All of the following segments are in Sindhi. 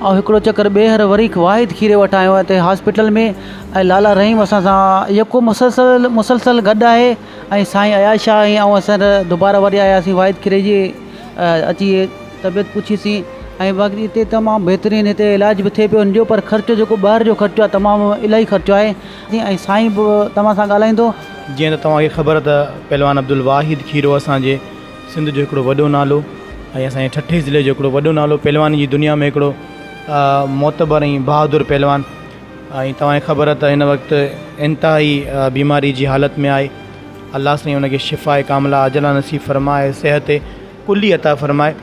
آئون هڪڙو چڪر ٻيهر وري واحد کيري وٽ آيو آهيان اتي هاسپيٽل ۾ ۽ لالا رحيم اسان سان يڪو مسلسل مسلسل گڏ آهي ۽ سائين اياز شاهه ۽ آئون اسان دوباره وري آياسين واحد کيري جي اچي طبيعت پڇيسين ۽ باقي اتي تمام بهترين اتي علاج به ٿئي پيو ان جو پر خرچ جيڪو ٻاهر جو خرچو آهي تمام الاهي خرچو آهي جي ۽ سائين به توهان سان ڳالهائيندو. جيئن ته توهان کي خبر ته پهلوان عبدالواحد کيرو اسان جي سنڌ جو هڪڙو وڏو نالو ۽ اسان جي ٺٽي ضلعي جو هڪڙو وڏو نالو پهلواني جي دنيا ۾ هڪڙو معتبر ۽ بهادر پهلوان ۽ توهان کي خبر ته هن وقت انتهائي بيماري جي حالت ۾ آهي الله سائين ان کي شفاء ڪاملا عاجلا نصيب فرمائي صحت ڪلي عطا فرمائي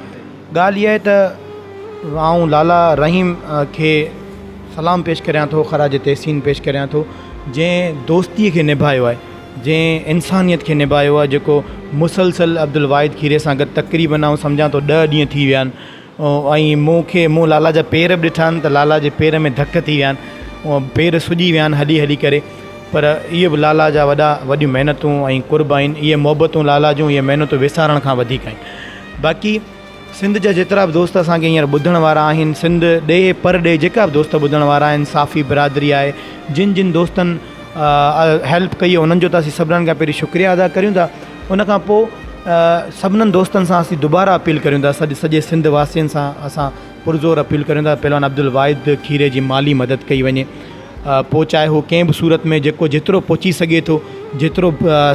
ڳالهه اها آهي ته آئون لالا رحيم کي سلام پيش ڪريان ٿو خراج تحسين پيش ڪريان ٿو جنهن دوستي کي نڀايو آهي جنهن انسانيت کي نباهيو آهي جيڪو مسلسل عبدالواحد کيري سان گڏ تقريبن آئون سمجهان ٿو ڏهه ڏينهن ٿي ويا آهن ۽ مون کي مون لالا جا پير به ڏٺا آهن ته لالا جي پير ۾ ڌڪ ٿي ويا آهن پير سڄي ويا آهن هلي هلي ڪري پر اهي به لالا جا وڏا وڏيون محنتون ۽ قرب آهن اهي محبتون لالا جون اهي محنتون وسارڻ کان وڌيڪ آهن باقي سنڌ جا جيترا به دوست اسان کي هينئر ٻڌڻ وارا آهن سنڌ ڏيهه پر ڏيهه جيڪا به دوست ٻڌڻ وارا آهن صافي برادري آهي جن جن دوستن هيلپ ڪئي هو انهن جو ته اسين سڀنن کان پهرين شڪريا ادا ڪريون ٿا ان کان پوء سڀنن دوستن سان اسين دوباره اپيل ڪريون ٿا سڄي سڄي سنڌ واسين سان اسان پرزور اپيل ڪريون ٿا پهلوان عبدالواحد کيري جي مالي مدد ڪئي وڃي پوء چاهي هو ڪنهن به صورت ۾ جيڪو جيترو پهچي سگهي ٿو جيترو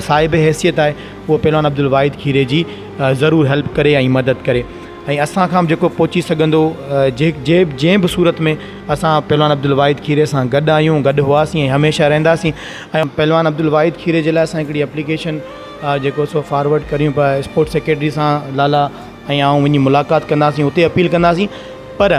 صاحب حيثيت آهي هو پهلوان عبدالواحد کيري جي ضرور هيلپ ڪري ۽ مدد ڪري ۽ اسان کان به جيڪو پهچي سگهندو جي جي جنهن به صورت ۾ اسان پهلوان عبدالواحد کيري سان گڏ آهيون گڏ هئاسين ۽ هميشه رهنداسين ۽ پهلوان عبدالواحد کيري جي لاء اسان هڪڙي اپليڪيشن جيڪو سو فارورڊ ڪريون پيا اسپورٽس سيڪريٽري سان لالا ۽ آئون وڃي ملاقات ڪنداسين اتي اپيل ڪنداسين پر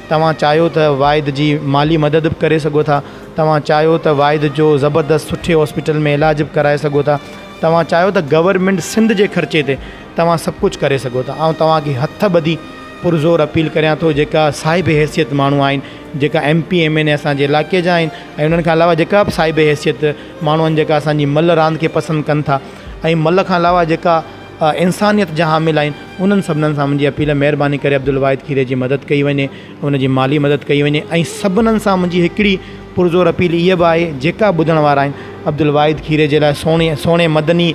توهان چاهيو ته واحد جي مالي مدد به ڪري سگهو ٿا، توهان چاهيو ته واحد جو زبردست سٺي هاسپيٽل ۾ علاج به ڪرائي سگهو ٿا، توهان چاهيو ته گورنمينٽ سنڌ جي خرچي تي توهان سڀ ڪجهه ڪري سگهو ٿا، آئون توهان کي هٿ ٻڌي پرزور اپيل ڪريان ٿو جيڪا صاحب حيثيت ماڻهو آهن جيڪا M P M N A اسان جي علائقي جا آهن ۽ انهن کان علاوه جيڪا به صاحب حيثيت ماڻهو آهن جيڪا اسان جي ملهه راند کي پسند ڪن ٿا ۽ ملهه کان علاوه جيڪا انسانيت جا حامل آهن انهن سڀنن سان منهنجي اپيل مهرباني ڪري عبدالواحد کيري جي مدد ڪئي وڃي ان جي مالي مدد ڪئي وڃي ۽ سڀنن سان منهنجي هڪڙي پرزور اپيل اها به آهي جيڪا ٻڌڻ وارا آهن عبدالواحد کيري جي لاء سهڻي سهڻي مدني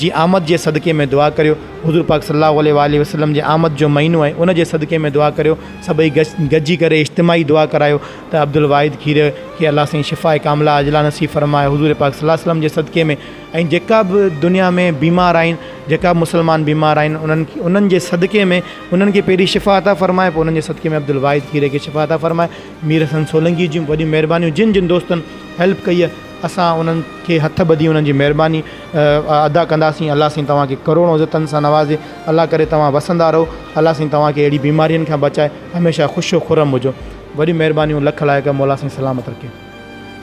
جي آمد جي صدقي ۾ دعا ڪريو حضور پاڪ صلي الله عليه واٰله وسلم جي آمد جو مهينو آهي ان جي صدقي ۾ دعا ڪريو سڀئي گڏ گڏجي ڪري اجتماعي دعا ڪرايو ته عبدالواحد کيري کي الله سائين شفاء ڪامله عاجله نصيب فرمائي حضور پاڪ صلي الله عليه وسلم جي صدقي ۾ ۽ جيڪا به دنيا ۾ بيمار آهن جيڪا به مسلمان بيمار آهن انهن کي انهن جي صدقي ۾ انهن کي پهرين شفا عطا فرماء پوء انهن جي صدقي ۾ عبدالواحد کيري کي شفا عطا فرماء مير حسن سولنگي جون وڏيون مهربانيون جن جن دوستن هيلپ ڪئي آهي اسان انهن کي هٿ ٻڌي انهن جي مهرباني ادا ڪنداسين الله سائين توهان کي ڪروڙون عزتن سان نوازي الله ڪري توهان وسندا رهو الله سائين توهان کي اهڙي بيمارين کان بچائي هميشه خوش و خرم هجو وڏيون مهربانيون لک لائق مولا سائين سلامت رکي.